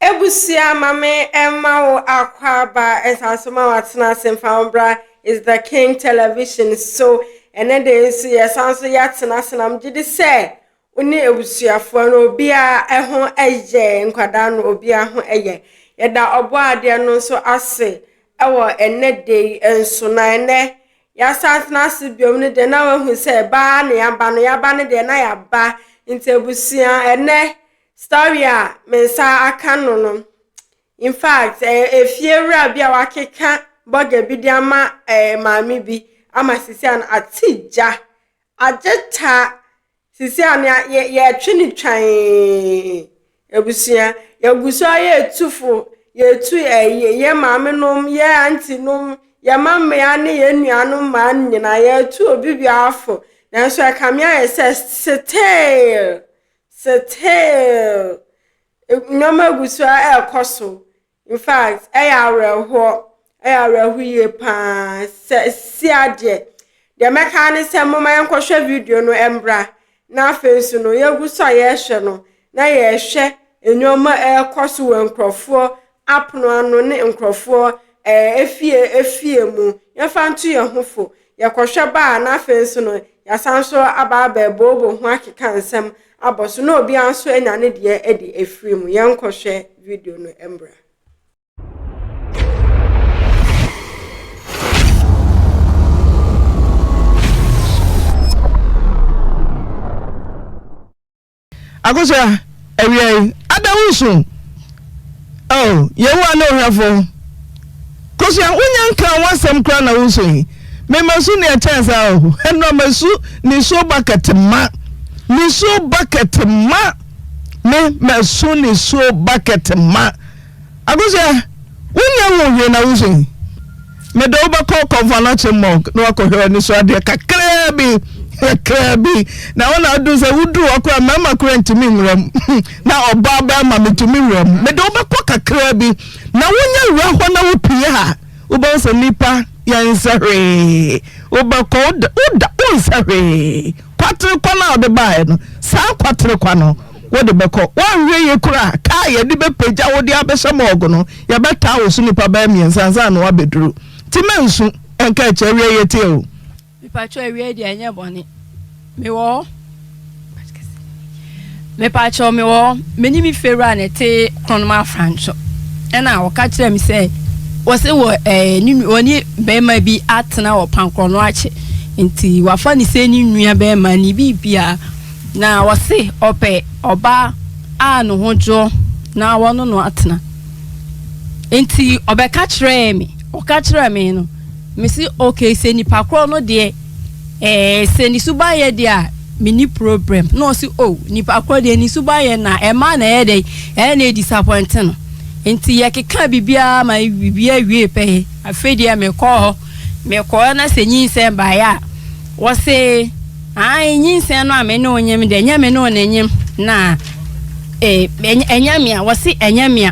Abusua ma me mma wo akwaaba nsaso ma watena ase mfa wo bra is the king television so ɛnɛ de nso yɛ san so yɛ atena ase na megye di sɛ wo ne abusuafoɔ no obiara ho yɛ nkwadaa no obiara ho yɛ yɛda ɔbɔ adeɛ no nso ase ɛwɔ ɛnɛ de yi nso na ɛnɛ yɛasan tena ase biom no deɛ na wahu sɛ baa ne yaba no yaba no deɛ na yaba nti abusua ɛnɛ Story a me nsa aka no no, in fact, ɛyɛ efiewura bi a wakeka burger bi de ama eh, maame bi ama sisi a no ate gya. Agye ta sisi a no yɛ- yɛ- yɛtwe no twan abusua. Yɛgu so a yɛ etufo, yɛtu eh, yɛ yɛ maame nom, yɛ auntie nom, yɛ mma mmea ne yɛn nuanom mmaa no nyinaa. Yɛtu obi biara fo. Nanso ɛkame ayɛ sɛ still Still, nneɛma gu so ara ɛrekɔ so. In fact, ɛyɛ awerɛhoɔ, ɛyɛ awerɛhoɔ yie paa. Sɛ si adeɛ, deɛ mɛka ne sɛ momma yɛnkɔhwɛ video no mbra, na afei nso no yɛgu so a yɛrehwɛ no, na yɛrehwɛ nneɛma ɛrekɔ so wɔ nkurɔfoɔ apono ano ne nkorɔfoɔ ɛɛ afie afie mu, yɛmfa nto yɛn ho fo, yɛkɔhwɛ ba a na afei nso no yɛasan nso aba abɛbooboo ho akeka nsɛm abɔ so na obiara nso anya ne deɛ adi afiri mu. Yɛnkɔhwɛ video no mmra. Akosua, awia yi, ada wusu? Oh, Yehowa ne ohwɛfo. Kosua, wunya nkaa w'asɛm koraa na wusu yi? Me masu nea ɛkyɛn saa o. Ɛnora masu nisuo bucket ma. Nisuo bucket ma. Me masu nisuo bucket ma. Akosua, wonyɛ ho hwee na wuso yi? Mede wo bɛkɔ Kɔmfoanokyem Mɔg na woakɔhwɛ anisoadeɛ kakraa bi, kakraa bi. Na wo na aduru sɛ woduru hɔ koraa mmarima koraa ntumi nwura mu. Na ɔbaa barima metumi wura mu. Mede wo bɛkɔ kakraa bi na wonyɛ wura hɔ na wopue a, wobɛhu sɛ nnipa yɛnsɛ hwee. Wobɛkɔ, woda, woda, wonsɛ hwee. Kwatere kwa no a wode baeɛ no, saa kwatere kwa no. wode bɛkɔ. Woanhwɛ yie koraa a, kaa a yɛde bɛpagya wo de abɛhyɛ morgue no, yɛbɛtaa wo so nnipa bɛyɛ mmiɛnsa ansa na woabɛduru. Nti mannsu anka akyiri awie a yɛteɛ o. Mepakyɛw awiei deɛ ɛnyɛ bɔne. Mewɔ hɔ. Mepakyɛw mewɔ hɔ. Me ne me fiewura na ɛte Kronoma Afranso. Ɛna ɔka kyerɛɛ me sɛ wɔse wɔ ɛɛ ne nu- wɔne barima bi atena wɔ Pankrɔnoakye nti wafa ne sɛ ne nua barima ne biribiara. Na ɔse ɔpɛ ɔbaa a ne ho dwoɔ na wɔne no atena. Nti ɔbɛka kyerɛɛ me, ɔka kyerɛɛ me no, mese okay, sɛ nipa korɔ no deɛ, eh, sɛ ne suban yɛ deɛ a, menni problem. Na ɔse oh, nipa korɔ deɛ ne suban yɛ na ɛma na ɛyɛ dɛn, ɛyɛ na ɛdisapɔinte no. Nti yɛkekaa biribiara ma biribiara wiee pɛyɛ. Afei deɛ mekɔɔ hɔ, mekɔɔ na sɛ nyinsɛn baeɛ a, ɔse. Ae, nyinsɛn no a me ne wo nyem dɛ, nyɛ me ne wo na enyem, na eh, ɛnyɛ mea, wɔse ɛnyɛ mea,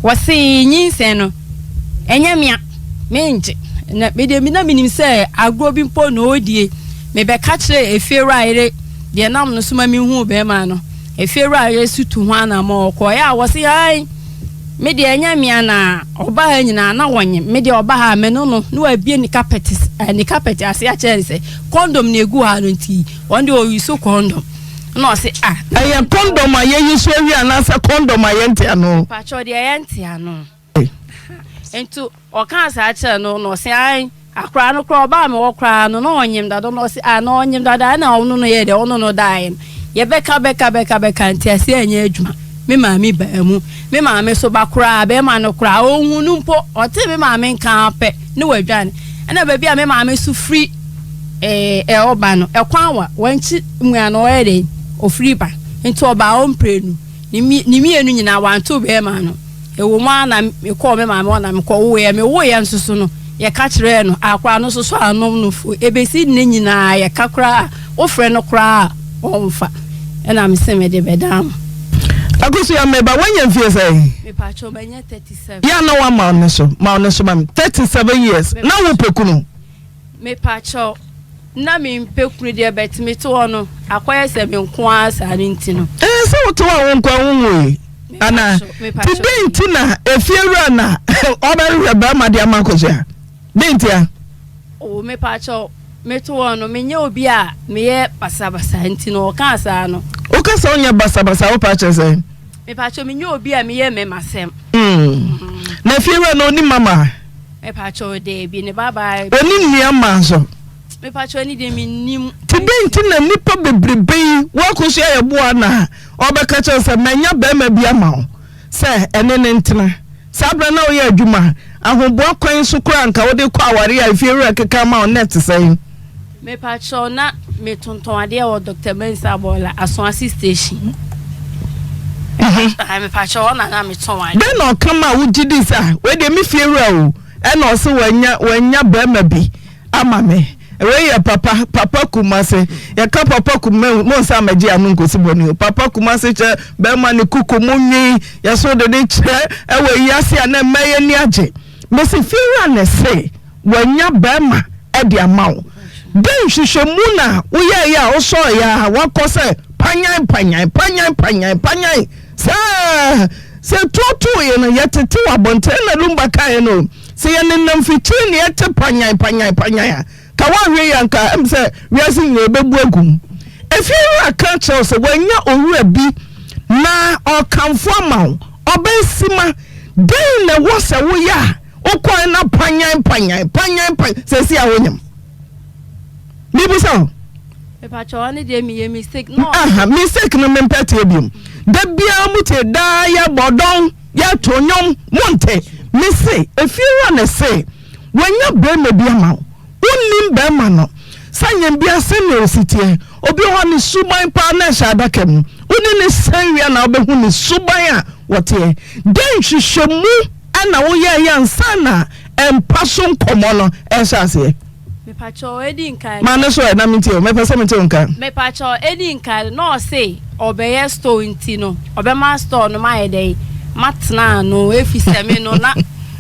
wɔse nyinsɛn no, ɛnyɛ mea, mengye, na me deɛ na menim sɛ agorɔ bi mpo na ɔredie, mebɛka kyerɛ efiewura yere deɛ nam no so ma mehuu bɛrima no, efiewura yere so tu ho anamɔ, ɔkɔɔeɛ a wɔse ae, me deɛ ɛnyɛ mea, na ɔba ha nyinaa na wɔnyem, me deɛ ɔba ha a me no no, na wabie ne kapɛt, eh, ne kapɛt ase akyerɛ ne sɛ, Condom na egu ha no nti wɔn de oyi so condom na ɔsi ah. Ɛyɛ condom a yɛyi so awie anaasɛ condom a yɛnte ano. Mpatsɔ deɛ yɛnte ano. Nti ɔkaa saa kyerɛ no na ɔsi ae akora no koraa ɔbaa mi hɔ koraa no na ɔnyem dada na ɔsi ah na ɔnyem dada ɛna ɔno no yɛ dɛ ɔno no daeɛ no. Yɛbɛka bɛka bɛka bɛka nteaseɛ anyɛ adwuma. Me maame baa mu. Me maame nso ba koraa bɛrima no koraa ɔnhuu no mpo. Ɔtee me maame nka ara pɛ ne wadwane. Ɛna baabi a me maame nso firi ɛɛ ɔba no ɛkwan wa wankyi mua na ɔyɛ dɛn ɔfiri ba. Nti ɔbaa ɔmprenu ne mmienu nyinaa wanto bɛrima no. Ɛwɔ mu ara na mekɔɔ me maame hɔ na mekɔwoeɛ. Mewoeɛ nso so no, yɛka kyerɛɛ no, akora no nso so anom no fo. Ɛbɛsi nnɛ nyinaa yɛka koraa a, wofrɛ no koraa a, ɔmfa. Ɛna mese mede bɛdan mo. Akosua, me ba, woanya mfeɛ sɛn? Me pa kyɛw, manya 37. Yɛ a na woama ne so, ma ne so ma me. 37 years, na wopɛ kunu? Mepakyɛw, na mempɛ kunu deɛ but me te hɔ no akɔyɛ sɛ me nko ara saa no nti no. Ɛɛ sɛ wote hɔ a wo nko ara wonwoe anaa? Nti dɛn nti na efiewura na ɔbɛhwehwɛ barima de ama akosua? Dɛn ntia? Oh mepakyɛw, mete hɔ no menyɛ obi a meyɛ basabasa nti no ɔkaa saa no. Woka sɛ wonyɛ basabasa a wo paa kyerɛ sɛn? Mepakyɛw menyɛ obi a meyɛ mɛma sɛm. Mm. Na efiewura no onim mama? Ɔne nnuamma nso? Nti dɛn nti na nnipa bebrebe yi woakɔsi ayɛboa no a ɔbɛka kyerɛ sɛ manya barima bi ama wo sɛ ɛne ne ntena saa berɛ na woyɛ adwuma ahoboa kwan so koraa nka wode kɔ aware a efiewura keka ama wo nnɛ te sɛn Mepa kyɛw na me tontɔn adeɛ wɔ Doctor Mensah Abɔɔla asoase station. Ɛhɛn mepa kyɛw ɔna na me tɔn adeɛ. Dɛn na ɔka maa wo gye dii sɛ ah wei deɛ me fie wura o ɛna ɔse wanya wanya barima bi ama me wei yɛ papa papa kumase yɛka papa kum me mo nsa ma gye ano nkosi bɔne o papa kumase kyɛ barima ne kuku mo nwi yɛso de ne kyerɛ ɛwɔ yi ase a na mma yɛ ni agye. Mese fiewura na ɛse wanya barima de ama wo, dɛn nhwehwɛmu na woyɛeɛ a wosɔreeɛ ara woakɔ sɛ panyan panyan panyan panyan panyan saa? Sɛ tuo tooeɛ no yɛtete wɔ abɔntene na Lumba kaeɛ no, sɛ yɛnenam fikyiri na yɛte panyan panyan panyan a, ka wanhwɛ yie anka ɛm sɛ wiase nyinaa ɛbɛbu agum efie wura ka kyerɛw sɛ wanya owura bi na ɔkamfo ama wo ɔbɛ sima dɛn na ɛwɔ sɛ woyɛ a wokɔe na panyan panyan panyan panyan sɛ si a wonyam mebisa o mepakyɛw ne deɛ meyɛ mistake no aha mistake no mempɛ teɛ biom da biara mu te daa yɛbɔ dɔn yɛto nnwom monte mese efie wura ne se Wanya barima bi ama wo. Wonnim barima no. San yɛn bia sɛnea osi teɛ. Obi wɔ hɔ a ne suban paa na ɛhyɛ adaka mu. Wone no san wie a na wobɛhu ne suban a ɔteɛ. Dɛn nhwehwɛmu na woyɛeɛ ansa na mpa so nkɔmmɔ no rehyɛ aseɛ? Mepakyɛw edi nkan. Ma no so ɛ na mentie o, mɛpɛ sɛ mete wo nka. Mepakyɛw edi nkan, na ɔse ɔbɛyɛ store nti no, ɔbɛma store no mayɛ dɛn? Matena ano efisɛ me no na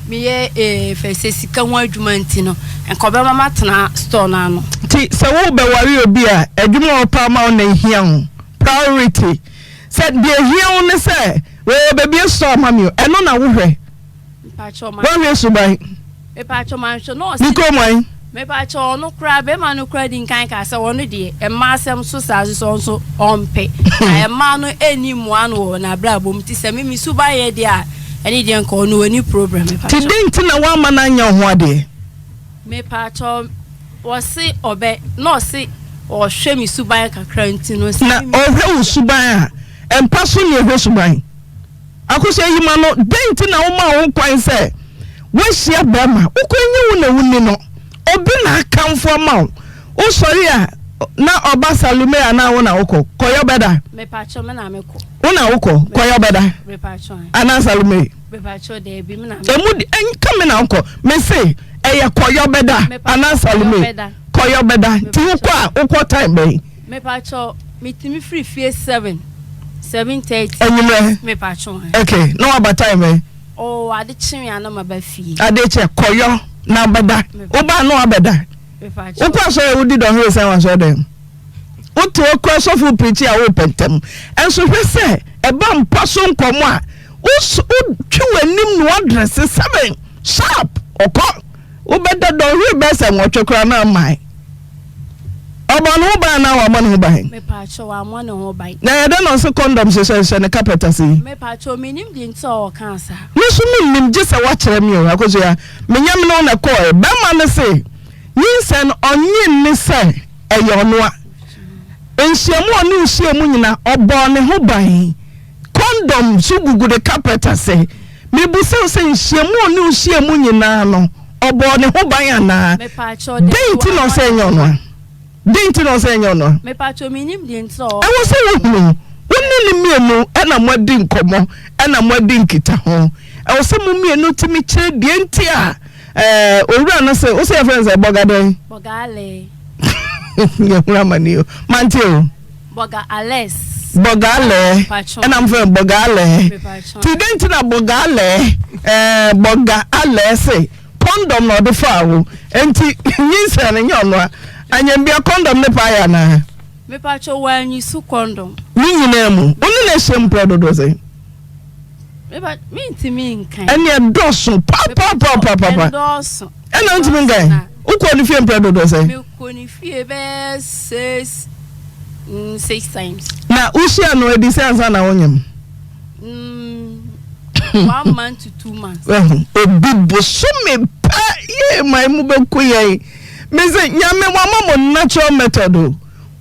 meyɛ eh, fɛ sɛ sika ho adwuma nti no, nka ɔbɛma matena store no ano. Nti sɛ wo bɛ ware obi a, adwuma a ɔpɛ ama wo na ehia wo, priority, sɛ deɛ ehia wo ne sɛ, oh, bɛbie store ama me o, ɛno na wo hwɛ. Mpakyɛw ma. W'ahwɛ suban. Mepakyɛw ma nhwɛ na ɔsi. Ne kɔn mu ayi. Mepakyɛw ɔno koraa bɛɛma no koraa di nkan kaa sɛ ɔno deɛ ɛmma asɛm so saa nso ɔno nso ɔmpɛ na ɛmma no ɛni mmoa no wɔ n'abrabɔ mu ti sɛ me me suban yɛ deɛ a ɛne deɛ nka ɔno ɔni problem mepakyɛw. Ti den ti na w'ama no anya ɔho adeɛ. Mepakyɛw ɔsi ɔbɛ na ɔsi ɔhwɛ me suban kakra nti no sɛ. Na ɔhwɛ wo suban a ɛmpa so ne ɔhwɛ suban. Akosua yi ma no, Dɛn nti na womaa ho kwan sɛ woahyia barima? Wo kwan nyɛ wo na wunni no. Obi na akamfo ama wo. Wosɔre a, na ɔba Salome anaa wo na wokɔ? Kɔyɛ ɔbɛda. Mepatwo, me na mekɔ. Wo na wokɔ? Kɔyɛ ɔbɛda. Mepatwo ɛ. Anaa Salome? Mepatwo, daabi, me na mekɔ. Emu de, ɛnka me na wokɔ. Mese, ɛyɛ kɔyɛ ɔbɛda. Anaa Salome? Kɔyɛ ɔbɛda. Nti wokɔ a, wokɔ time bɛn? Mepatwɔ metumi firi fie seven seven thirty. Enyimrɛ. Mepatwɔ hɛn. Okay na waba time bɛn. Oo oh, ade kye wia na ma ba fie. Ade kye kɔyɔ na bɛda. Wobaa na wabɛda. Mepatwɔ. Wokɔ asɔre wodi dɔnhwere sɛn wɔ asɔre dɛm. Wote okura sɔfo pirikyi a wopɛ ntɛm. Ɛnso hwɛ sɛ ɛba mpa so nkɔmɔ a wotwe w'anim na wadrɛse seven sharp ɔkɔ. Wobɛda dɔnhwere bɛsɛ nwɔtwe koraa na mmae. Ɔbɔ ne ho ban anaa wammɔ ne ho ban? Mepaakyɛw, wammɔ ne ho ban. Na ɛyɛ dɛn na ɔse condom hyehyɛ hyehyɛ ne carpet ase yi? Mepaakyɛw, mennim deɛ nti a ɔkaa saa. Me nso mennim gyesɛ woakyerɛ me o. Akosua, menyɛ mene wo na ɛkɔɔɛ. Bɛrima no se nyinsɛn no ɔnnye nni sɛ ɛyɛ ɔnoa. Nhyiamu a ɔne wo hyiaa mu nyinaa ɔbɔɔ ne ho ban. Kɔndɔm nso gugu ne kapɛt ase. Mebisa wo sɛ, nhyiam a ɔne wo hyia mu nyinaa no, ɔbɔɔ ne ho ban anaa? Dɛn nti na ɔsɛ ɛnyɛ ɔno a? Dɛn nti na ɔsɛ ɛnyɛ ɔno a? Ɛwɔ sɛ wohunu. Wo ne no mmienu na moadi nkɔmmɔ na moadi nkitaho. Ɛwɔ sɛ mo mmienu tumi kyerɛ deɛ nti a eh, owura no se, wo sɛ yɛfrɛ no sɛ bɔga dɛn? Yɛhunu amane o. Mante o. Bɔgaalɛs. Bɔgaalɛɛ, ɛna mo frɛ no bɔgaalɛɛ. Ti dɛn ti na bɔgaalɛɛ ɛɛ bɔgaalɛɛ se kɔndɔm na ɔde faa wo nti nyinsɛn no nyɛ ɔno a anyambia kɔndɔm ne paa yɛ anaa? Mepatwɔ wɔanyi so kɔndɔm. Ne nyinaa mu, wo ne no ahyia mu pɛɛ dodoɔ sɛn? Meba mintumi nkan. Ɛne ɛdɔɔso papapapapaapa. Ɛdɔɔso. Ɛna ntumi nkan. Wokɔ ne fie mpɛ dodoɔ sɛ. Mekɔ ne fie bɛyɛ six mm, six times. Na wohyia no adi sɛ ansa na wonyam. Mm, one month to two months. Obi bosome pɛ yɛ ma emu bɛku yɛn. Mese nyame wama mo natural method o.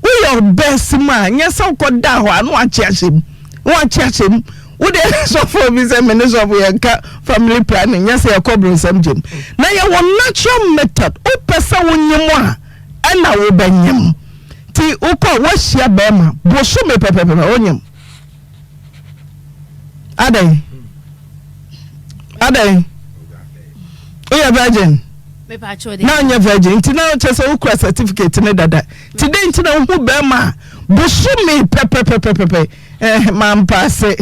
Woyɛ your best mu a, nyɛ sɛ wokɔdaa hɔ a na woakye ahyɛ mu. Na woakye ahyɛ mu. Wode sɔfoɔ bi sɛ me ne sɔfo yɛnka family planning nyɛ sɛ yɛkɔ bronsam gyam. Na yɛwɔ natural method. Wopɛ sɛ wonyem a ɛna wobɛnyem. Nti wokɔ a woahyia bɛɛma bosome pɛpɛpɛpɛ wonyem. adɛn adɛn woyɛ virgin na nyɛ virgin nti na kyɛ sɛ wokura certificate ne dada nti dɛn nti na wohu bɛrima a bosome pɛpɛpɛpɛpɛ eh, mampaase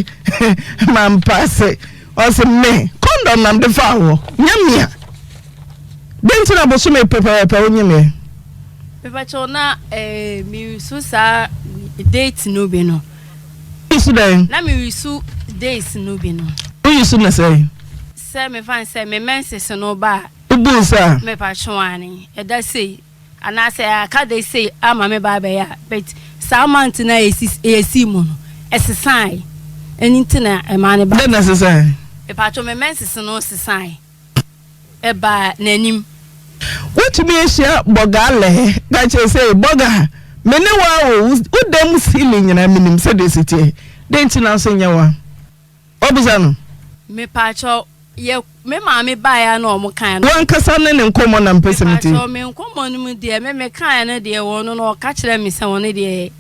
mampaase ɔse me kɔndɔm nam de fa wɔ nyɛ mea dɛn nti na bosome pɛpɛpɛpɛ wonye meɛ pɛpɛkyɛw na eh, meresu saa date no bi no Woyi so dɛn? Na me wi so days no bi no. Woyi so ne sɛn? Sɛ me fa sɛ me menses no ba a. Wobu nsa a. Me pa twe wɔn ane. Ɛda sei. Anaa sɛ aka days sei ama me ba abɛyɛ a. But saa month na esi esi mu no. Ɛsesae. Ɛni ti na ɛma ne ba. Dɛn na ɛsesae? Me pa twe me menses no sesae. ɛbaa n'anim. Wotumi ahyia bɔgaa lɛɛ ka kyerɛ sɛ bɔgaa me ne wo a o wo dan mu ceiling nyinaa menim sɛdeɛ ɛsi teɛ dɛn nti na nso nyɛ wo a wabisa no. Mepakyɛw yɛ me maame baeɛ a na wɔn kaeɛ no. Wankasa ne ne nkɔmmɔ na mpɛ sɛ metie. Mepakyɛw me nkɔmmɔ no mu deɛ me me kaeɛ no deɛ wɔn no na ɔka kyerɛ me sɛ wɔn deɛ.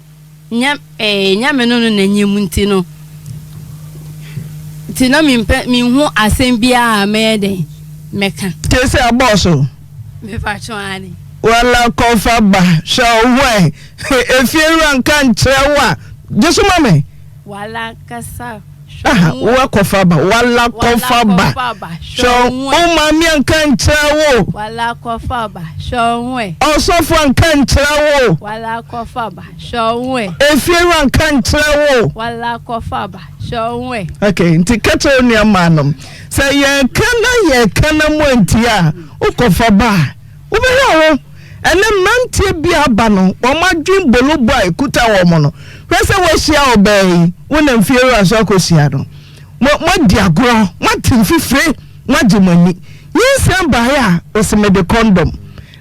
Nya eh, Nyame no no n'enyim ntsi no, ntsi na memmpɛ, mennhu asɛm biara a mɛyɛ dɛn mɛkã. Kesi abɔɔ so. Mepakyɛ wo, aane. Wala kɔ fa ba, hwɛ wo ho ɛ, efiewura nnka nnkyerɛ wo a, gye so ma me. Wala kasa. Aha, wo akɔfa aba, wala kɔfa aba, hwɛ wo maame anka nkyerɛ wo, wala kɔfa aba, hwɛ wo ɛ, ɔsɔfo anka nkyerɛ wo, wala kɔfa aba, hwɛ wo ɛ, efie hɔ anka nkyerɛ wo, wala kɔfa aba, hwɛ wo ɛ. Okay, nti kɛkyɛ wo nua maa nom sɛ yɛka na yɛka na mu antia a wokɔfa ba a Wobɛhwɛ a wo ne mmeranteɛ bi a aba no wɔn adwene bolobɔ a ɛkuta wɔn no, hwɛ sɛ woahyia ɔbaa yi, wo ne mfeɛwura nso akɔhyia no, mo, moadi agorɔ, moate mfifire, moagye mo ani. Nyinsɛn baeɛ a, ɔse mede kɔndɔm.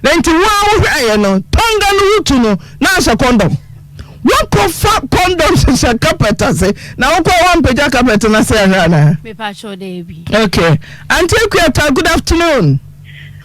Na nti wo ara wohwɛeɛ no, tɔnga no wotu no, na ahyɛ kɔndɔm. Woakɔfa kɔndɔm hyehyɛ kapɛt ase, na wokɔ a woampagya kapɛt no ase anhwɛ anaa? Mepakyɛw daabi. Okay. Auntie Akuata, good afternoon.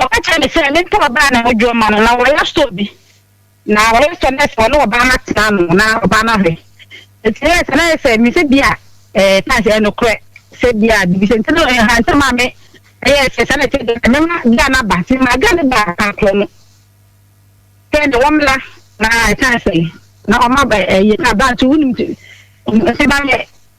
Ɔka kyerɛɛ me sɛ mentɔ ɔbaa na ɔdwo mma no. Ná wɔyɛ store bi, na wɔyɛ sɛ nurse a ɔne ɔbaa no atena ano na ɔbaa no ahwɛ. Enti ɛyɛɛ sɛ na ayɛ sɛ me sɛ bi a ɛɛ times ɛyɛ nokorɛ sɛ bi a biribi sɛ nti no ɛhaa ntam a me ɛyɛɛ sɛ saa na ɛte deɛ mɛma guy no aba. Nti memaa guy no baa kan korɔ no sɛ ne wɔmmra na ɛsan sɛ na ɔma ba ɛyɛ na ba nso wonim nti ɔmfa ba yɛ.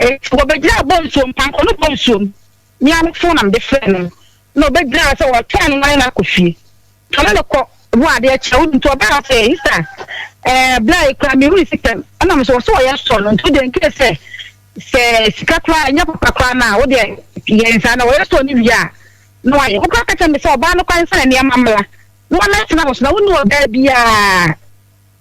Enti wɔbegyinaa bonsuo mpankɔ no bonsuo mu, ne awofo nam de frɛɛ no, na ɔbɛgyinaa sɛ ɔretwɛn no ma ne nã kɔ fie. Tɔne no kɔ ho adeɛ kyɛ, wode nti ɔbaa sɛ, Ester, ɛɛ, berɛ a yɛkura me were sitam, ɛnam sɛ wɔse wɔyɛ sɔ no nti, wodeɛ nkae sɛ, sɛ sika koraa ɛnyɛ papa koraa no a, wodeɛ yɛ nsaa na wɔyɛ sɔ no wie a, na wayɛ. Wo koraa ka kyerɛ me sɛ ɔbaa no kwan sɛ nneɛma mmra, na wɔmmɛtena wo so, na wonni ɔbaa biara.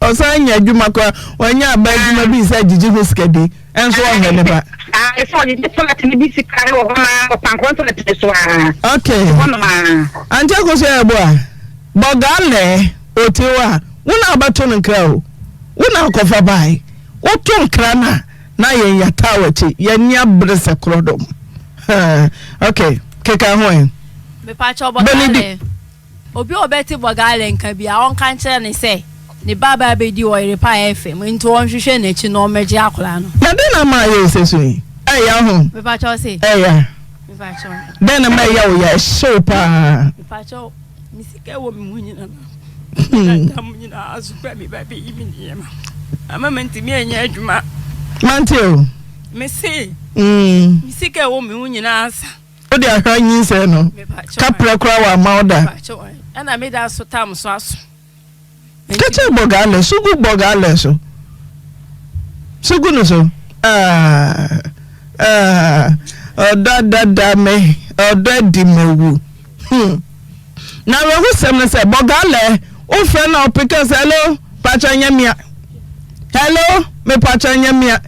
Ɔsan nya adwuma koraa. Wanya aba adwuma bi sɛ gyegye ho sika bi nso ɔhwɛ ne ba. Ah, ɛsɛ ɔde gye tɔlɛt no bi sika wɔ hɔ naa ɔpankorɔ tɔlɛt no so ara. Ok. Hɔnom ara. Ante akoso yɛ ɛbo a. Bɔgaa lɛɛ ote hɔ a, wo na abɛto no nkra o. Wo na akɔfa bae. Woto nkra no a, na yɛn yɛataa w'akyi. Yɛne abere sɛ korɔdɔm. ok, keka ho ɛ. Mepakyɛ ɔbɔgaa lɛɛ. Obi a ɔbɛte Bɔgale nka biara, ɔnka nkyerɛ no sɛ ne ba bɛba abɛdi ɔyere pa a ɛyɛ fɛ mu, nti ɔnhwehwɛ n'akyi na ɔmmɛgye akwadaa no. Na dɛn na ama ayɛ wo sɛ su yi ɛyɛ wo ho? Mepakyɛw se. Ɛya. Mepakyɛw. Dɛn na ama ɛya wo ya, ɛhyɛ wo paa? Mepakyɛw, me sika ɛwɔ me ho nyina no, meda mu nyina ara so pɛ me ba bɛyi me nneɛma, ama mantumi anyɛ adwuma. Mante o. Mese. Mm. Me sika ɛwɔ me ho nyina ara sa. Wo de ahwɛ nyinsɛn no. Kaprɛ koraa wamma wo da. Ɛna me da so tam so aso. Kɛkyɛ bɔ gaalɛ so gu bɔ gaalɛ so. So gu no so. Ah, ah, ɔdɔ adada me, ɔdɔ adi mawu. Hmm. N'awerɛhosɛm ne sɛ, Bɔgalɛ, wofrɛ na ɔpe ka sɛ, Hello, pakyɛ nyɛ mea. Hello, me pakyɛ nyɛ mea.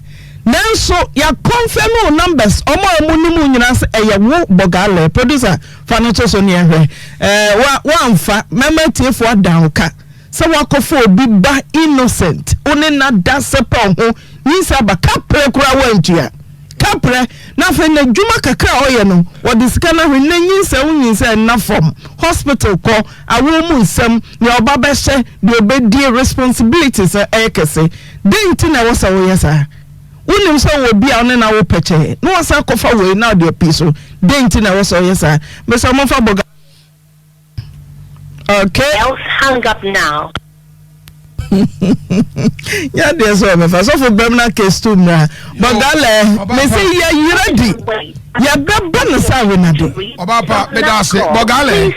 Nanso yɛakɔnfɛme wo numbers, wɔn a wɔnim wo nyinaa sɛ ɛyɛ wo Bɔgalɛ. Producer, fa no to so ne yɛnhwɛ. Ɛɛ, wa, woamfa. Mɛma atiefoɔ ada wo ka. Sɛ wakɔfa obi ba innocent wo ne no ada sɛpɛw ho nyinsɛn aba kaprɛ koraa wantua kaprɛ na afei n'adwuma kakra a ɔyɛ no wɔde sika no ahwɛ nnɛ nyinsɛn wo nyinsɛn nna fam hospital kɔ awoɔ mu nsɛm nea ɔba bɛhyɛ deɛ ɔbɛdie responsibilities no ɛyɛ kɛse dɛn nti na ɛwɔ sɛ woyɛ saa wonim sɛ wɔ bi a wo ne no awo pɛkyɛɛ na wasan akɔfa wei na ɔde api so dɛn nti na ɛwɔ sɛ ɔyɛ saa mesɛ ɔmomfa bɔga Okay. Else hang up now. ya deɛ sɛ ɔbɛfa sɔfo bɛm na case to mmra bɔdalɛ me sɛ yɛyerɛ di yɛbɛbɔ no sɛ awenade ɔbapa meda ase bɔgalɛ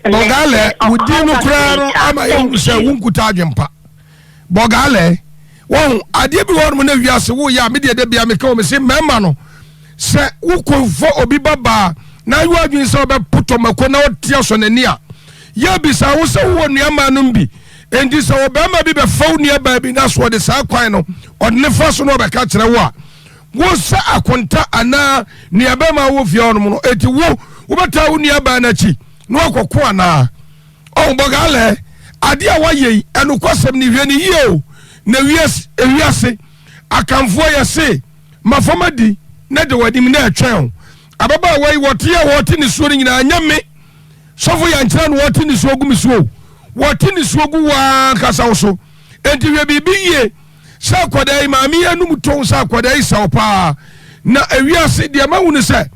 bɔgalɛ wodi no koraa no ama yɛhu sɛ wonkuta adwempa bɔgaalɛɛ wahu adeɛ bi wɔnom na wiase wo yɛ a medeɛ da bia meka wɔ me se mɛma no sɛ wo kunfo obi babaa na ayɔ adwene sɛ ɔbɛpotɔ mako na ɔte asɔ n'ani a yɛ bisa wo sɛ wowɔ nuamaa nom bi enti sɛ ɔbɛrima bi bɛfa wo nuabaa bi na so ɔde saa kwan no ɔde ne fa so na ɔbɛka kyerɛ wo a wo sɛ akonta anaa nuabɛrima wɔ fie hɔnom no enti wo wobɛtaa wo nuabaa n'akyi na wakɔko anaa Oh Bogale, adeɛ a woayɛ yi, ɛnokwasɛm ni, hwɛ no yie o, na wiase, ewiase, Akanfoɔ yɛse, ma fam adi, na da w'anim, na ɛtwɛn wo. Ababaawa yi, wɔteɛ a wɔte ne soɔ no nyinaa, ɛnyɛ me, Sɔfo Yankyerɛ na wɔte ne soɔ gu me so o, wɔte ne soɔ gu wo ara ankasa wo so, enti hwɛ biribi yie. sɛ akwadaa yi maame yi anum tɔn sɛ akwadaa yi sɛw paa na ewiase deɛ mahu no sɛ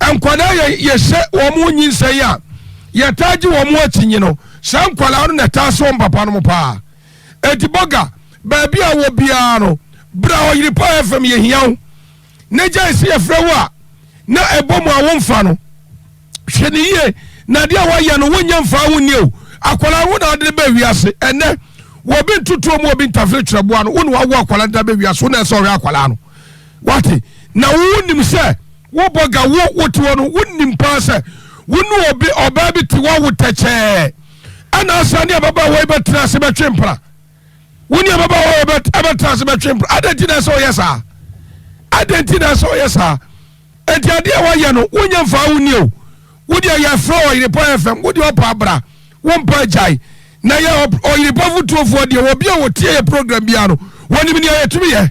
nkwadaa yɛ yɛhyɛ wɔn nyinsɛn yi a yɛtaa gye wɔn akyinnye no saa nkwadaa no na ɛtaa sɛ wɔn papa no paa eti bɔga baabi a wɔ biara no bra ɔyere paa fam yɛhia wo. na gyae sɛ yɛfrɛ wo a na ɛbɔ mu a womfa no hwɛ no yie na adeɛ a woayɛ no wonyɛ mfaa wo nnie o akwalaa wo na ade bɛ wiase ɛnɛ wɔbi ntotoɔ mu wɔbi ntafere kyerɛboa no wo na wawo akwalaa de bɛ wiase wo na ɛsɛ ɔhwɛ akwalaa no wate na wonim sɛ wobɔ ga wo wote hɔ no wonim paa sɛ wo ne obi ɔbaa bi te wawo tɛkyɛɛ ɛna asa ne ababaawa yi bɛtena ase bɛtwe mpena wo ne ababaawa a ɛbɛtena ase bɛtwe mpena adɛn nti na ɛsɛ ɔyɛ saa adɛn nti na ɛsɛ ɔyɛ saa ɛnti adeɛ a wɔyɛ no wonyɛ mfaa wo nie o wodeɛ yɛfrɛ ɔyerepɔ fm wodeɛ ɔpa abra wompa agyae na yɛ ɔyerepɔ fotuofoɔ deɛ wɔbi a wɔtie yɛ program biara no wɔnim nea yɛtumi yɛ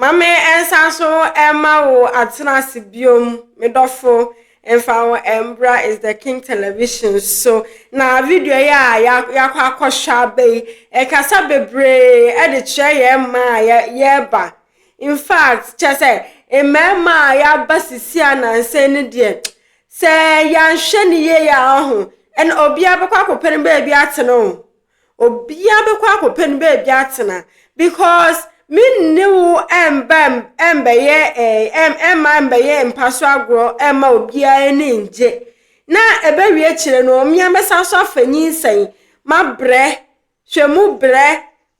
Ma me nsan so mma wo atena ase biom me dɔfo mfa wo mbra is the king television so na video yi a yakɔ akɔhwɛ aba yi ɛkasa bebree ɛde kyerɛ yɛ mma a yɛba in fact kyɛ sɛ mmarima a yɛaba sisi a nansa no deɛ sɛ yɛanhwɛ ne yie a ɔho ɛna obiara bɛkɔ akɔpɛ no baabi atena o Obiaa bɛkɔ akɔpɛ no baabi atena because me ne wo ɛmba ɛmbɛyɛ ɛɛ ɛmma ɛmbɛyɛ mpa so agorɔ ɛmma obiaa ani ngye na ɛbɛwie akyire no mmea mɛsan so afa nyinsɛn mabrɛ hwɛ mu brɛ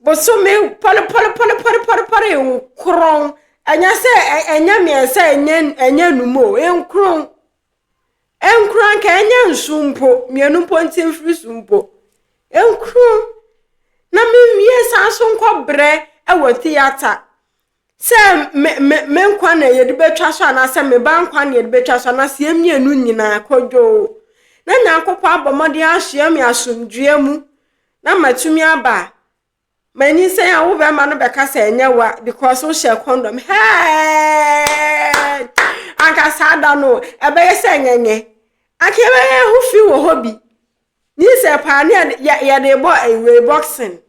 bosome pɔrepɔrepɔrepɔrepɔre nkron ɛnyɛ sɛ ɛnyɛ mmiɛnsa ɛnyɛ ɛnyɛ num o nkron. Ɛnkura nka ɛnyɛ nsu mpo, mmienu mpo nti mfiri so mpo. Ɛnkuru na menwie san so nkɔ brɛ wɔ theatre sɛ me me me nkwa na yɛde bɛtwa so anaasɛ me ba nkwa na yɛde bɛtwa so anaasɛ yɛn mmienu nyinaa kɔdwoo. Na Nyankopɔn abɔ mmɔden asoɛ me asomdwoeɛ mu na matumi aba Manyinsɛn a wo bɛrima no bɛka sɛ ɛnyɛ wa because wohyɛ condom hɛɛd anka saa da no ɛbɛyɛ sɛ nyɛnyɛ anka ɛbɛyɛ ho fi wɔ hɔ bi nyinsɛn paa ne yɛde bɔ ɛwei eh, boxing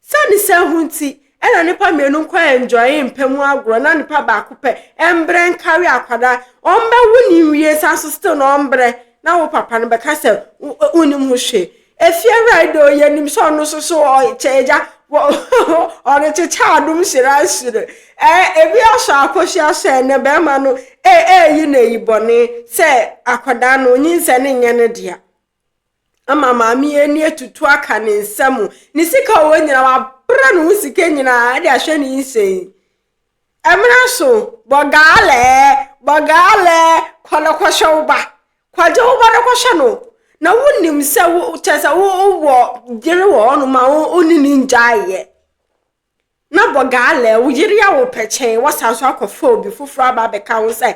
sani sɛ ho nti ɛna nipa mmienu nkɔ enjoy mpɛ mu agorɔ na nipa baako pɛ ɛmbrɛ nkari akwada ɔmbɛwo ne nwie san so still na ɔmbrɛ na wo papa no bɛka sɛ wonim ho hwee Efie ride o yɛnim sɛ ɔno nso so ɔkyɛ agya ɔde kyekyɛ adom hyira nhyire ɛɛ ebi asɔ akɔhyia sɛ ne bɛrima no ee eyi na eyi bɔne sɛ akwadaa no nyinsɛ ne nyɛ ne dea ama maame ani atutu aka ne nsa mu ne sika ɔwɔ nyina wabra ne ho sika nyinaa ɛde ahwɛ ne nsɛn ɛmena so bɔgaalɛ bɔgaalɛ kɔnɔkɔhyɛ wo ba Kwadwo wo ba no kɔhwɛ no na wonim sɛ wo kyɛ sɛ wowɔ yere wɔ hɔ no ma wo ne ne ngyaeɛ na bɔ gaalɛ wo yere a wo pɛ kyɛn wɔsan so akɔfa obi foforɔ aba abɛka ho sɛ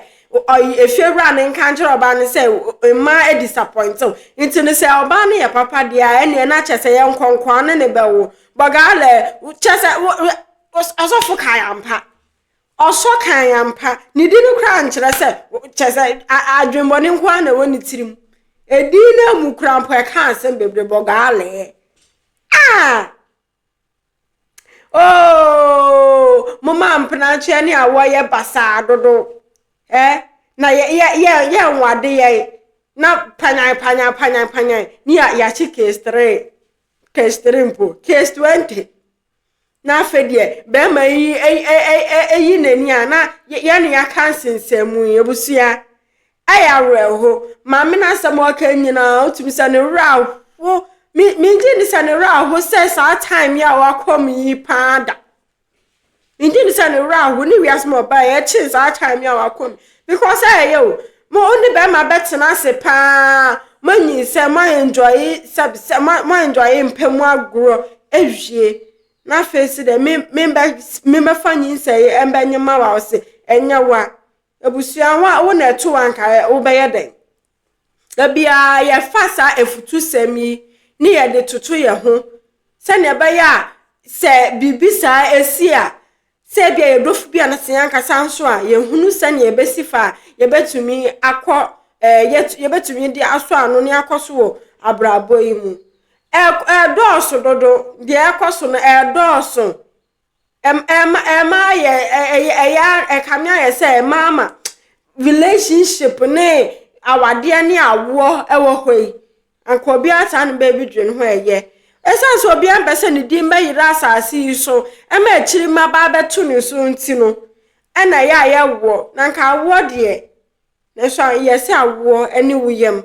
efie wura no nka nkyerɛ ɔbaa no sɛ mmaa disappoint wo nti no sɛ ɔbaa no yɛ papa deɛ a ɛneɛ na kyɛ sɛ yɛ nkɔnkɔa ne ne bɛwo bɔ gaalɛ kyɛ sɛ asɔfo kae ampa Ɔsɔ kan ampa. Ne din no koraa nkyerɛ sɛ, kyerɛ sɛ adwemmɔne nko ara na ɛwɔ ne tirim. Edin no mu koraa mpo ɛka asɛm bebree bɔ gaalee. Ah! Oh! Moma mpenatweɛ ne awɔ yɛ basaa dodo. Eh? Na yɛ yɛ yɛ yɛ nwade yɛ na panyan panyan panyan panyan ne yɛ yɛakye case three case three mpo case twenty na afei deɛ bɛrima yi ayi n'ani a na yɛne yɛaka nsensɛn yi abusua ayɛ awerɛho maame no asɛm ɔka nyinaa wotumi sɛ ne werɛ aho me megye ne sɛ ne werɛ aho sɛ saa time yi a wakɔ mu yi paa da megye ne sɛ ne werɛ aho ne wiase mu ɔbaa yɛkyen saa time yi a wakɔ mu because ɛyɛ o Mo wo ne bɛrima bɛtena ase paa, moanyinsɛn, moaɛnjɔye sɛb sɛ mo moaɛnjɔye mpɛ mu agorɔ awie. Na afei se dɛ me me bɛ me bɛfa nyinsɛn yi ɛmbɛnye ma wo a ɔse ɛnyɛ wo a. Abusua wo a wo na ɛto wo a nka wo bɛyɛ dɛn? Da biara yɛfa saa afutusɛm yi ne yɛde toto yɛn ho sɛdeɛ ɛbɛyɛ a sɛ biribi saa si a Sɛ ebia yɛn dɔfo bi anaa sɛ yɛn ankasa nso a, yɛhunu sɛnea yɛbɛsi fa a yɛbɛtumi akɔ ɛɛ yɛbɛtumi de asɔ ano ne akɔ so wɔ abrabɔ yi mu. Ɛdɔɔso dodo, deɛ ɛkɔ so no ɛdɔɔso. Ɛma ɛma yɛ ɛyɛ ɛyɛ ɛkame ayɛ sɛ ɛma ama relationship ne awadeɛ ne awoɔ ɛwɔ hɔ yi Anka obiara saa no baabi dwen ho ɛyɛ. Ɛsiane sɛ obiara mpɛ sɛ ne din bɛyera asase yi so ma akyiri mmabaa bɛto ne so nti no, ɛna ɛyɛ a yɛwoɔ. Na anka awoɔ deɛ, nanso yɛse awoɔ ne wo yam.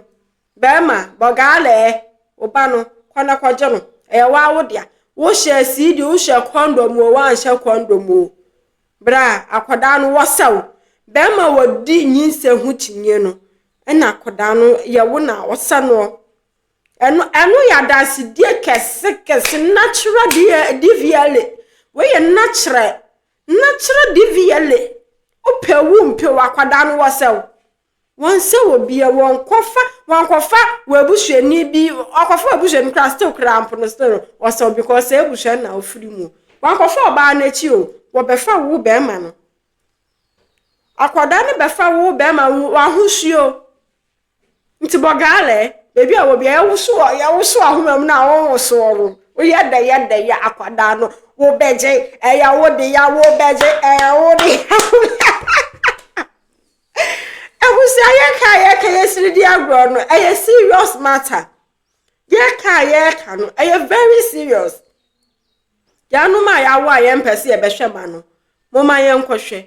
Bɛrima, bɔgaalɛɛ, wo ba no, kɔ na kɔgye no. Ɛyɛ wo ara wo dea. Wohyɛ siidi, wohyɛ kɔndɔm o, woanhyɛ kɔndɔm o, berɛ a akwadaa no wɔsɛ wo. Bɛrima a ɔdi nyinsɛn ho kyinie no, Ɛna akɔdaa no yɛ wo na ɔsɛ noɔ. Ɛno ɛno yɛ adansedie kɛse kɛse nakyerɛ deɛ DVLA. Wei yɛ nakyerɛ nakyerɛ DVLA. Wopɛ wo mpɛ wo akɔdaa no wɔsɛ wo. Wɔnsɛ wɔ bia wɔnkɔfa wɔnkɔfa w'abusuani bi ɔkɔfa w'abusuani koraa still koraa mpo no still no wɔsɛ wo because sɛ abusua na wofiri mu. Wɔnkɔfa ɔbaa no akyi o wɔbɛfa wo bɛrima no. Akwadaa no bɛfa wo bɛrima wo ahosuo. Nti bɔ gaalɛ. Baabi a wɔ bia yɛwoso yɛwoso ahoma mu no a wonwosoɔ no. Woyɛ dɛ yɛ dɛ yɛ akwadaa no wobɛgye ɛyɛ wo de ya wobɛgye ɛyɛ wo de ya Abusua yɛka a yɛka yɛsiri di agorɔ no ɛyɛ serious matter. Yɛka a yɛka no ɛyɛ very serious. Yɛanom a yɛawo a yɛmpɛ sɛ yɛbɛhwɛ ma no, momma yɛnkɔhwɛ,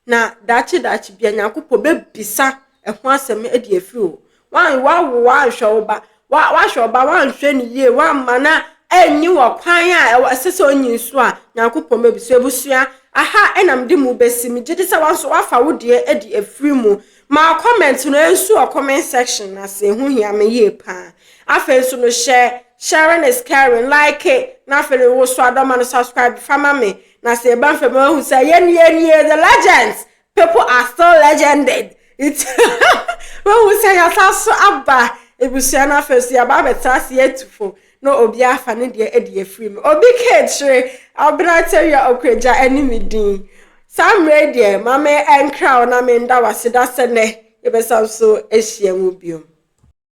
na daakye daakye bia Nyankopɔn bɛbisa ɛho asɛm de afiri hɔ. Woawo woanhwɛ wo ba, woahwɛ wo ba woanhwɛ no yie, woamma no anyi wɔ kwan a ɛsɛ sɛ onyi nso a, Nyankopɔn bɛbisa. Abusua, aha na mede mo bɛsi, megye di sɛ wo nso woafa wo deɛ de afiri mu. Ma comment no nsu wɔ comment section no ase, ɛho hia me yie paa. Afei nso no hyɛ. Sharing is caring, like na afei no wo so adɔ ma no subscribe fa ma me na sɛ yɛba mfam a wahu sɛ yɛn yɛn nie the legends people are still legended it wahu sɛ yɛasa so aba ebusua no afei so yɛaba abɛtra ase yɛatufo na obi afa ne deɛ adi afiri mu obi keekyere abena tawia okuragya ɛne me din saa mmerɛ deɛ ma me ɛnkra wo na menda wase da sɛ nɛ yɛbɛsan so ahyia mu biom